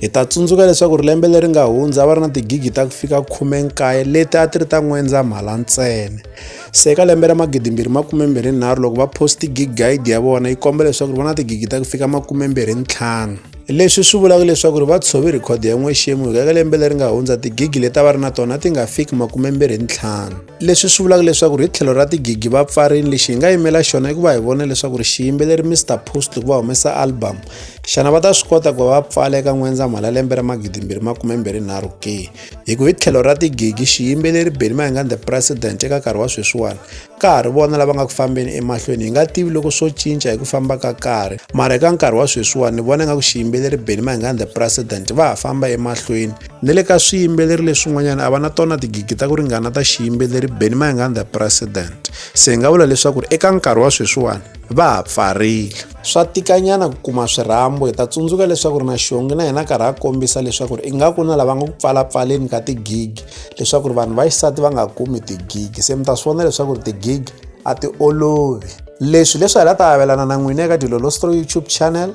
Hi ta tsundzuka leswaku ri lembe leri nga hundza va ri na tigigi ta ku fika 19 leti a ti ri ta n'wendzamhala ntsena. Se eka lembe ra 2023 loko va post gig guide ya vona yi komba leswaku ri va na tigigi ta ku fika 25. Leswi swi vulaka leswaku ri va tshove record ya n'wexemu hikuva eka lembe leri nga hundza tigigi leti a va ri na tona ti nga fiki 25. leswi swi vulaka leswaku ri hi tlhelo ra tigigi va pfarini lexi hi nga yimela xona i ku va hi vona leswaku ri xiyimbeleri mr post ku va humesa album xana va ta swi kota ku va va pfala eka n'wendzamhala lembe ra magidimbirhi makumembirhinharhu ke hi ku hi tlhelo ra tigigi xiyimbeleri beni mahingani the president eka nkarhi wa sweswiwani ka ha ri vona lava nga ku fambeni emahlweni hi nga tivi loko swo cinca hi ku famba ka karhi mara eka nkarhi wa sweswiwani ni vona nga ku xiyimbeleri beni mahingani the president va ha famba emahlweni ni le ka swiyimbeleri leswin'wanyana a va na tona tigigi ta ku ringana ta xiyimbeleri benny mayengani the president se hi nga vula leswaku ri eka nkarhi wa sweswiwani va ha pfarile swa tikanyana ku kuma swirhambo hi ta tsundzuka leswaku ri na xongi na yena karhi a kombisa leswaku ri ingaku na lava nga ku pfalapfaleni ka tigigi leswaku ri vanhu va xisati va nga kumi tigigi se mi ta swi vona leswaku ri tigigi a ti olovi leswi leswi hi la ta avelana na n'wina eka dilolostro youtube channel